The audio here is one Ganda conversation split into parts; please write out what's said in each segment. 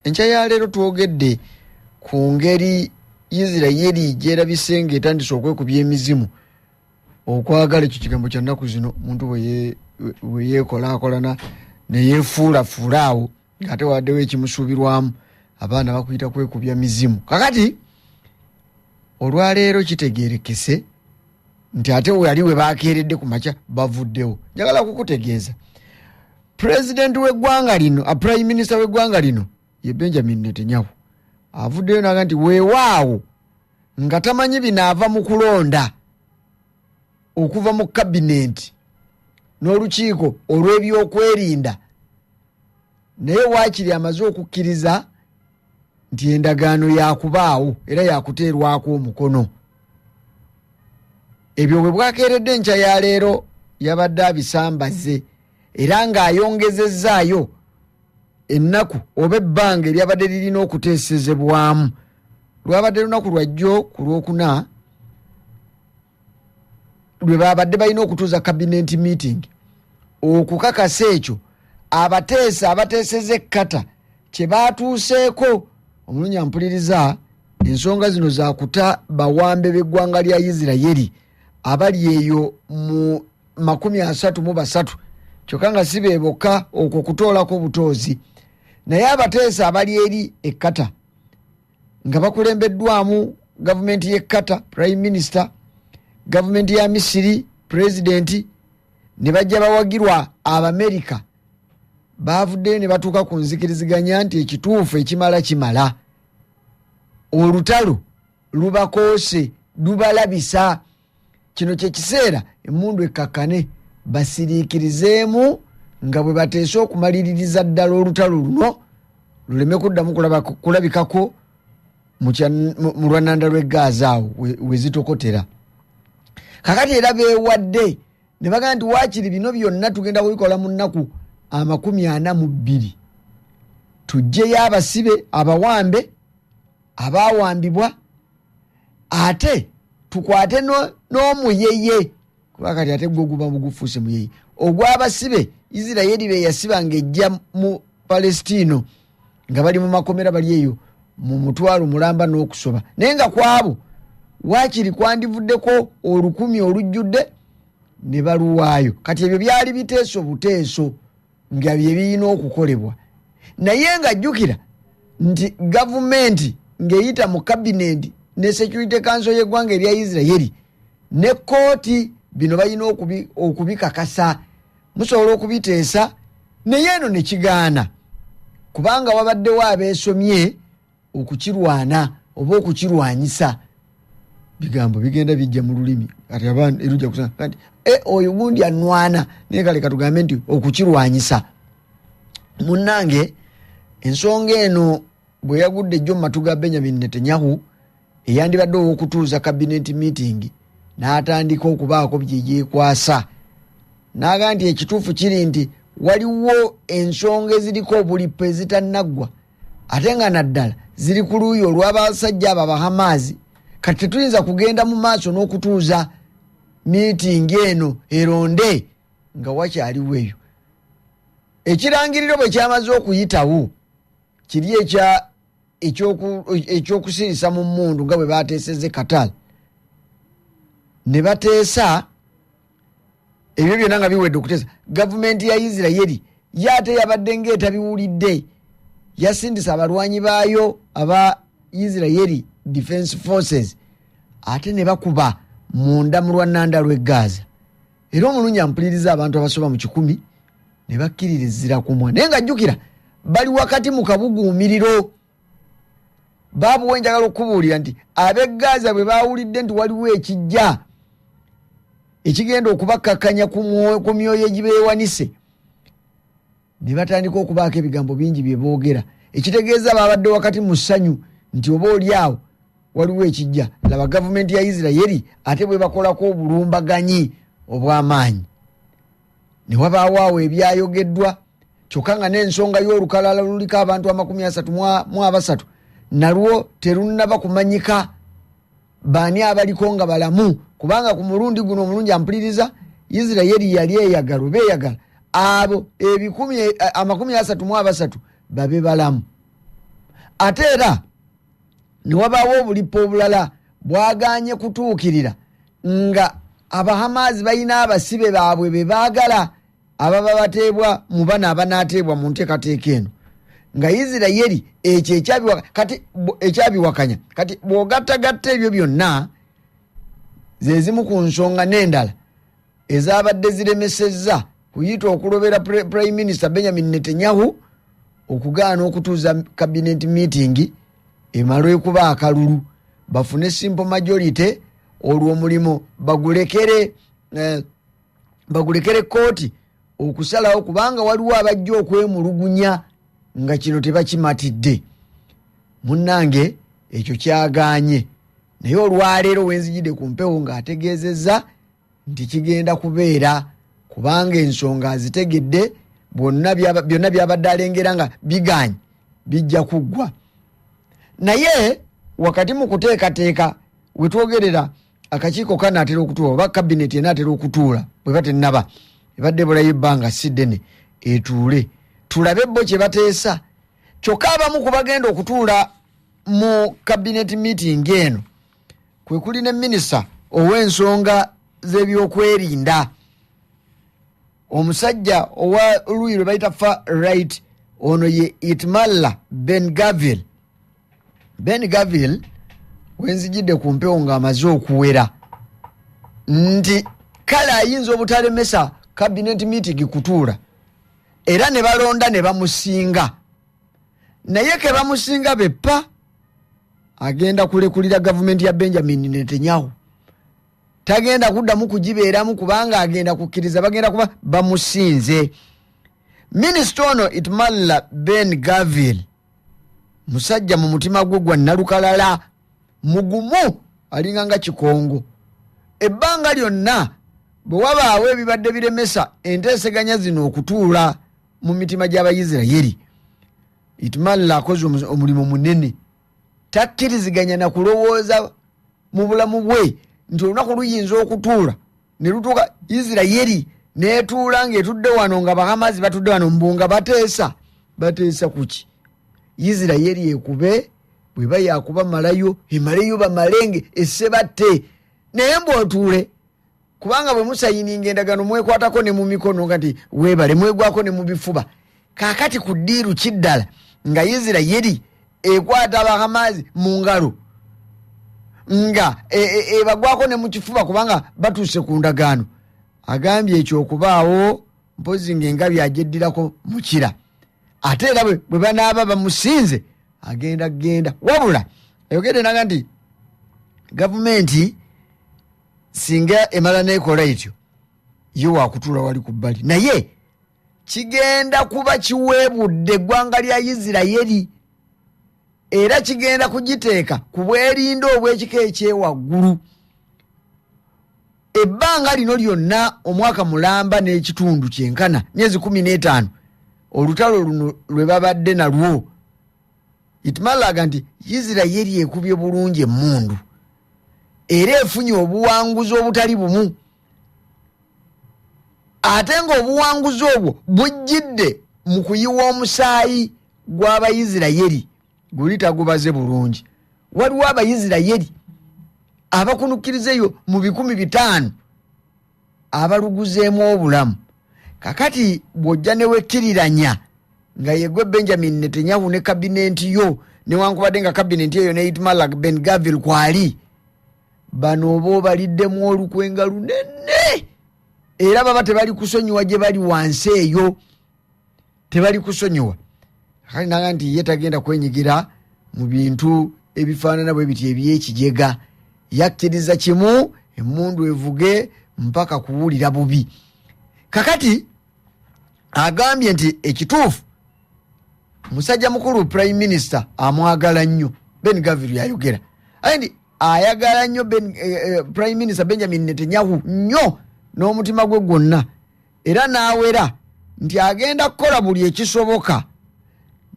enkya ya leero twogedde ku ngeri isiraeri gyerabise nga etandise okwekubya emizimu okwagala ekyo kigambo kya nnaku zino omuntu weyeekolakolana neyefuulafuula awo ngaate waddewo ekimusuubirwamu abaana bakuyita kwekubya mizimu kakati olwaleero kitegerekese nti ate weyali webakeeredde ku makya bavuddewo njagala kukutegeeza president w'eggwanga lino a prime minister w'eggwanga lino ye benjamin netanyahu avuddeyo naga nti weewaawo nga tamanyi binaava mu kulonda okuva mu kabinenti n'olukiiko olw'ebyokwerinda naye waakiri amaze okukkiriza nti endagaano yakubaawo era yakuteerwako omukono ebyo bwe bwakeeredde enkya ya leero yabadde abisambaze era ng'ayongezezzaayo ennaku oba ebbanga eryabadde lirina okuteesezebwamu lwabadde lunaku lwajjo ku lwokuna lwe babadde balina okutuuza kabinenti meeting okukakasa ekyo abateesa abateeseza ekkata kye baatuuseeko omulunya mpuliriza ensonga zino zakuta bawambe b'eggwanga lya isiraeri abali eyo mu makumi asatu mu basatu kyokka nga si be bokka okwo kutoolako obutoozi naye abateesa abali eri ekkata nga bakulembeddwamu gavumenti y'ekkata prime minister gavumenti ya misiri pulezidenti ne bajja bawagirwa abamerika baavuddeyo ne batuuka ku nzikiriziganya nti ekituufu ekimala kimala olutalo lubakoose lubalabisa kino kyekiseera emundu ekkakkane basiriikirizeemu nga bwe bateese okumaliririza ddala olutalo luno luleme kuddamu kulabikako mu lwananda lw'e gaaza awo we zitokotera kakati era beewadde ne bagamba nti waakiri bino byonna tugenda kubikola mu nnaku amakumi ana mu bbiri tujjeyo abasibe abawambe abaawambibwa ate tukwate n'omuyeye no kuba kati ate gwo guba mugufuuse muyeye ogw'abasibe isiraeri be yasiba ng'ejja mu palestino nga bali mu makomera bali eyo mu mutwalo mulamba n'okusoba naye nga kwabo waakiri kwandivuddeko olukumi olujjudde ne baluwaayo kati ebyo byali biteeso buteeso nga bye birina okukolebwa naye nga jjukira nti gavumenti ng'eyita mu kabineti ne security kanso y'eggwanga erya isiraeri ne kkooti bino balina okubikakasa musobola okubiteesa naye eno ne kigaana kubanga wabaddewo abeesomye okukirwana oba okukirwanyisa bigambo bigenda bijja mu lulimi kati abantu erujja kusa kati e oyo gundi anwana naye kale katugambe nti okukirwanyisa munnange ensonga eno bwe yagudde ejjo mu matu ga benyamin netanyahu eyandibadde ow'okutuuza kabineti meeting n'atandika okubaako bye yeekwasa n'aga nti ekituufu kiri nti waliwo ensonga eziriko obulipo ezitanaggwa ate nga naddala ziri ku luuyi olw'abasajja abo abahamaazi kati tetuyinza kugenda mu maaso n'okutuuza miitingi eno eronde nga wakyaliwo eyo ekirangiriro bwe kyamaze okuyitawo kiri ekya ekyokusirisa mu mundu nga bwe bateeseze katal ne bateesa ebyo byonna nga biwedde okuteesa gavumenti ya isiraeri ye ate yabadde ngaetabiwulidde yasindisa abalwanyi baayo aba isiraeri defense forces ate ne bakuba munda mu lwa nanda lw'e gaaza era omulungi ampuliriza abantu abasoba mu kikumi ne bakkiririzira kumwa naye nga jjukira bali wakati mu kabuguumiriro baabu we njagala okukubuulira nti ab'e gaaza bwe baawulidde nti waliwo ekijja ekigenda okubakkakkanya ku myoyo egibeewanise ne batandika okubaako ebigambo bingi bye boogera ekitegeeza baabadde wakati mu ssanyu nti oba oli awo waliwo ekijja laba gavumenti ya isiraeri ate bwe bakolako obulumbaganyi obw'amaanyi ne wabaawo awo ebyayogeddwa kyokka nga n'ensonga y'olukalala luliko abantu amakumi asatu mu abasatu nalwo terunnaba kumanyika baani abaliko nga balamu kubanga ku mulundi guno omulungi ampuliriza isiraeri yali eyagala oba eyagala abo ebikumi eh, amakumi asatu mu abasatu babe balamu ate era ne wabaawo obulipo obulala bwaganye kutuukirira nga abahamaazi balina abasibe baabwe be baagala ababa bateebwa mu bano abanaateebwa mu nteekateeka eno nga isiraeri ekyo ekyabiwakanya kati bw'ogattagatta ebyo byonna ze zimu ku nsonga n'endala ezabadde ziremesezza kuyita okulobera prime minister benjamin netanyahu okugaana okutuuza kabinet meeting emalwekuba akalulu bafune simple majority olwo omulimu bagulekere eh, bagulekere kooti okusalawo kubanga waliwo abajja okwemulugunya nga kino tebakimatidde munnange ekyo kyaganye naye olwaleero wenzijidde ku mpewo ng'ategeezezza nti kigenda kubeera kubanga ensonga azitegedde byonna byabadde alengera nga bigaanyi bijja kuggwa naye wakati mu kuteekateeka we twogerera akakiiko kanaatera okutuula oba kabineti enaatera okutuula bweba tennaba ebadde ebulayo ebbanga si ddene etuule tulabe bo kye bateesa kyokka abamu ku bagenda okutuula mu kabineti miitingi eno kwekuli ne minisita ow'ensonga z'ebyokwerinda omusajja owa oluyi lwe bayita fa right ono ye itmalla ben gavil ben gavil wenzijidde ku mpewo ng'amaze okuwera nti kale ayinza obutalemesa kabinet meeting kutuula era ne balonda ne bamusinga naye ke bamusinga beppa agenda kulekulira gavumenti ya benjamin netanyahu tagenda kuddamu kugibeeramu kubanga agenda kukkiriza bagenda kuba bamusinze minisita ono itmalla ben gavil musajja mu mutima gwe gwa nalukalala mugumu alinga nga kikongo ebbanga lyonna bwe wabaawo ebibadde biremesa enteeseganya zino okutuula mu mitima gy'abayisirayiri itimalla akoze omulimu munene takkiriziganya na kulowooza mu bulamu bwe nti olunaku luyinza okutuula ne lutuuka isirayiri netuula ngaetudde wano nga bahamazi batudde wano mbu nga bateesa bateesa kuki isirayiri ekube bweba yakuba malayo emaleyo bamalenge esebatte naye mbu otuule kubanga bwe musayininga endagano mwekwatako ne mu mikono nga nti weebale mwegwako ne mu bifuba kaakati ku ddiiru kiddala nga isirayiri ekwata abahamaazi mu ngalo nga e, e, ebagwako e, e, ne mu kifuba kubanga batuuse ku ndagaano agambye ekyo okubaawo mpozi ng'engabi agyeddirako mukira ate era bwe banaaba bamusinze agenda genda wabula ayogedde naga nti gavumenti singa emala nekola etyo ye wakutula wali ku bbali naye kigenda kuba kiweebudde eggwanga lya isiraeri era kigenda kugiteeka ku bwerinda obw'ekika ekyewaggulu ebbanga lino lyonna omwaka mulamba n'ekitundu kyenkana myezi kumi n'etaano olutalo luno lwe babadde nalwo itimalaga nti isiraeri ekubye bulungi emundu era efunye obuwanguzi obutali bumu ate ngaobuwanguzi obwo bujjidde mu kuyiwa omusaayi gw'abaisiraeri guli tagubaze bulungi waliwo abaisiraeri abakunukiriza eyo mu bikumi bitaano abaluguzeemu obulamu kakati bw'ojja ne wekkiriranya nga yegwe benjamin netanyahu ne kabinenti yo newankubadde nga kabinenti eyo neitmalak ben gavil kwali bano oba obaliddemu olukwenga lunene era baba tebali kusonyiwa gye bali wansi eyo tebali kusonyiwa kale naga nti ye tagenda kwenyigira mu bintu ebifaanana bwe biti ebyekijega yakkiriza kimu emundu evuge mpaka kuwulira bubi kakati agambye nti ekituufu musajja mukulu prime minister amwagala nnyo ben gaviru yayogera aye nti ayagala nnyo eh, eh, prime minister benjamin netanyahu nnyo n'omutima gwe gwonna era n'awera nti agenda kukola buli ekisoboka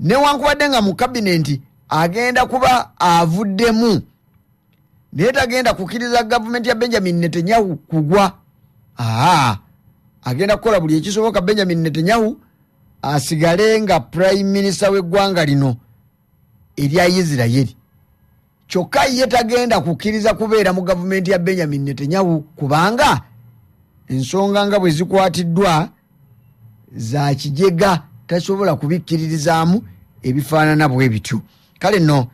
newankubadde nga mu kabinenti agenda kuba avuddemu naye tagenda kukiriza gavumenti ya benjamin netanyahu kugwa aa agenda kukola buli ekisoboka benjamin netanyahu asigale nga prime minister w'eggwanga lino erya isiraeri kyokka ye tagenda kukkiriza kubeera mu gavumenti ya benjamin netanyahu kubanga ensonga nga bwe zikwatiddwa za kijega tasobola kubikkiririzaamu ebifaanana bwe bityo kale nno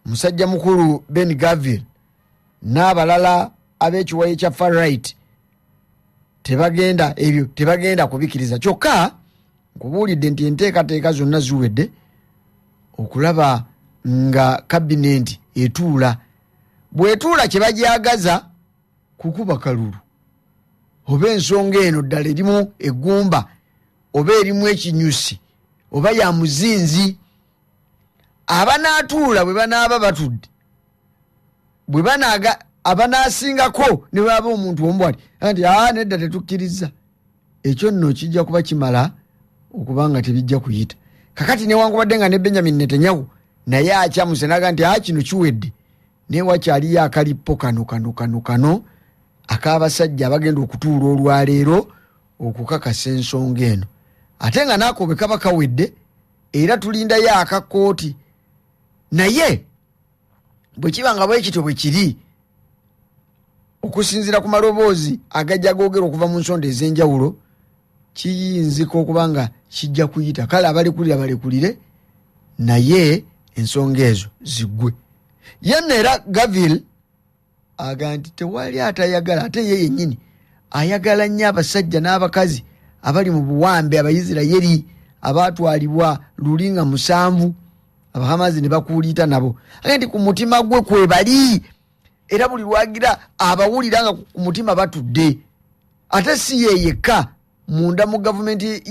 musajja mukulu ben gavil n'abalala ab'ekiwayi kya farright tebagenda ebyo tebagenda kubikkiriza kyokka nkubuulidde nti enteekateeka zonna ziwedde okulaba nga kabinenti etuula bwetuula kye bagyagaza kukuba kalulu oba ensonga eno ddala erimu eggumba oba erimu ekinyusi oba ya muzinzi abanaatuula bwe banaaba batudde bwe banaaga abanaasingako ne bwaba omuntu omu bwati anti aa nedda tetukkiriza ekyo nno kijja kuba kimala okuba nga tebijja kuyita kakati newankubadde nga ne benjamin netanyahu naye akyamuse naga nti aa kino kiwedde naye wakyaliyo akalippo kano kano kano kano ak'abasajja abagenda okutuula olwaleero okukakasa ensonga eno ate nga naako bwe kaba kawedde era tulindayo akakooti naye bwe kiba nga bwekityo bwe kiri okusinziira ku maloboozi agajja googera okuva mu nsonda ez'enjawulo kiyinzika okuba nga kijja kuyita kale abalekulira balekulire naye ensonga ezo ziggwe yenna era gavil aga nti tewali atayagala ate ye yennyini ayagala nnyo abasajja n'abakazi abali mu buwambe abaisirayeri abaatwalibwa luli nga musanvu abahamazi ne bakuuliita nabo aga nti ku mutima gwe kwebali era buli lwagira abawulira nga ku mutima batudde ate si yeyekka munda mu gavumenti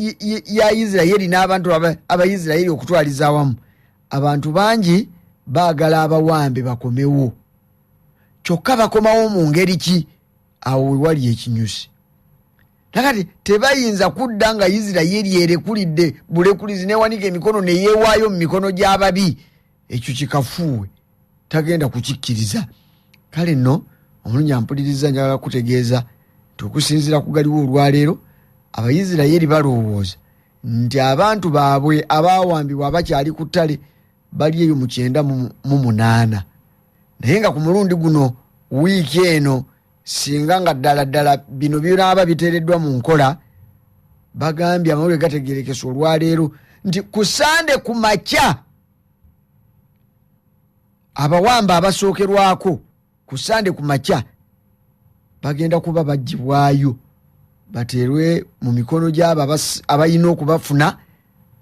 ya isiraeri n'abantu abaisiraeri okutwaliza awamu abantu bangi baagala abawambe bakomewo kyokka bakomawo mu ngeri ki awo wewali ekinyusi nakati tebayinza kudda nga isiraeri erekulidde bulekulizi newanika emikono neyewaayo mu mikono gy'ababi ekyo kikafuuwe tagenda kukikkiriza kale nno omulungi ampuliriza njagala kutegeeza nti okusinziira ku galiwo olwaleero abaisiraeri balowooza nti abantu baabwe abaawambibwa abakyali ku ttale bali eyo mu kyenda mu munaana naye nga ku mulundi guno wiiki eno singa nga ddala ddala bino binaaba biteereddwa mu nkola bagambye amawulire gategerekesa olwaleero nti ku sande ku makya abawamba abasookerwako ku sande ku makya bagenda kuba bagibwayo bateerwe mu mikono gyabo abalina okubafuna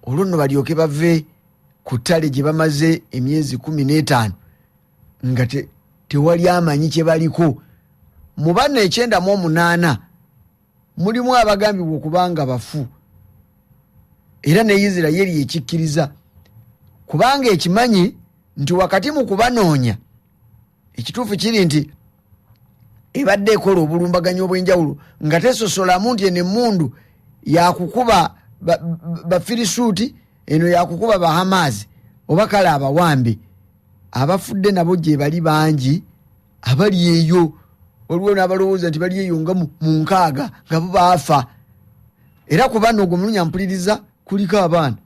olwo nno balyoke bave ku ttale gye bamaze emyezi kumi n'etaano nga tewali amanyi kye baliko mu banna ekyenda mu omunaana mulimu abagambibwa okuba nga bafu era ne isiraeri ekikkiriza kubanga ekimanyi nti wakati mu kubanoonya ekituufu kiri nti ebadde ekola obulumbaganyi obw'enjawulo nga tesosolamu nti eno emmundu yakukuba bafirisuuti eno yakukuba bahamaazi oba kale abawambi abafudde nabo gyebali bangi abali eyo waliwo n'abalowooza nti bali eyo nga mu nkaaga nga bo baafa era ku bano ogwo mulunya mpuliriza kuliko abaana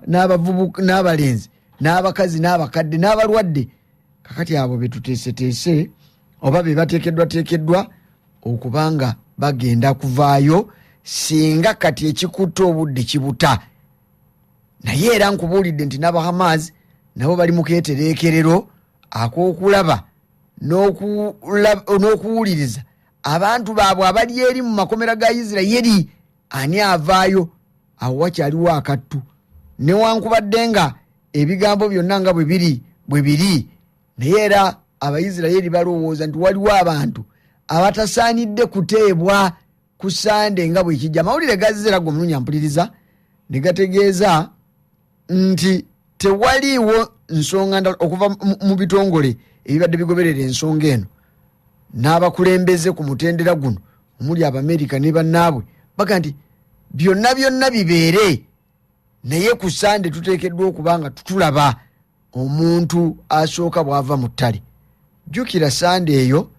n'abavubuka n'abalenzi n'abakazi n'abakadde n'abalwadde kakati abo betuteeseteese oba be bateekeddwateekeddwa okuba nga bagenda kuvaayo singa kati ekikutte obudde kibuta naye era nkubuulidde nti n'abahamaasi nabo bali mu keetereekerero ak'okulaba n'okuwuliriza abantu baabwe abali eri mu makomera ga isiraeri ani avaayo awo wakyaliwo akattu newankubadde nga ebigambo byonna nga bwe biri bwe biri naye era abaisiraeri balowooza nti waliwo abantu abatasaanidde kuteebwa ku sande nga bwekijja amawulire gazze era gomulunya mpuliriza ne gategeeza nti tewaliiwo nsonga ndala okuva mu bitongole ebibadde bigoberera ensonga eno n'abakulembeze ku mutendera guno omuli abamerika ne bannaabwe baga nti byonna byonna bibeere naye ku sande tuteekeddwa okuba nga tutulaba omuntu asooka bw'ava mu ttale jjukira sande eyo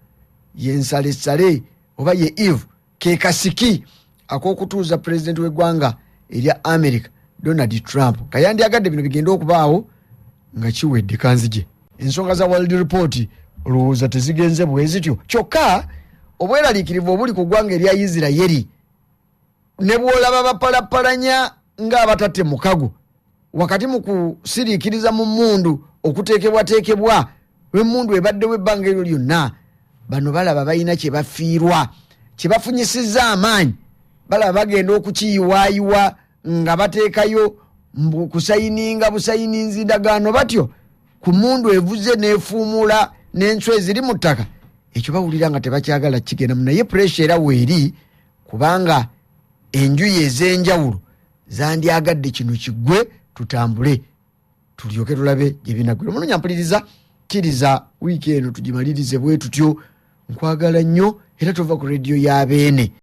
ye nsalesale oba ye eve ke kasiki ak'okutuuza pulezidenti w'eggwanga erya america donald trump kayandyagadde bino bigenda okubaawo nga kiwedde kanzigye ensonga za world report olowooza tezigenze bwe zityo kyokka obweraliikirivu obuli ku ggwanga erya isiraeri ne bw'olaba bapalappalanya ng'abatatte mukago wakati mu kusiriikiriza mu mmundu okuteekebwateekebwa lw'emmundu ebaddewo ebbanga eryo lyonna bano balaba balina kye bafiirwa kye bafunyisizza amaanyi balaba bagenda okukiyiwaayiwa nga bateekayo kusayininga busayininzi ndagaano batyo ku mmundu evuze n'efuumuula n'enswa eziri mu ttaka ekyo bawulira nga tebakyagala kigenda mu naye puresha era weeri kubanga enjuyi ez'enjawulo zandyagadde kino kigwe tutambule tulyoke tulabe gyebinagwira muno nyampuliriza kkiriza wiiki eno tugimalirize bwe tutyo nkwagala nnyo era tova ku rediyo ya beene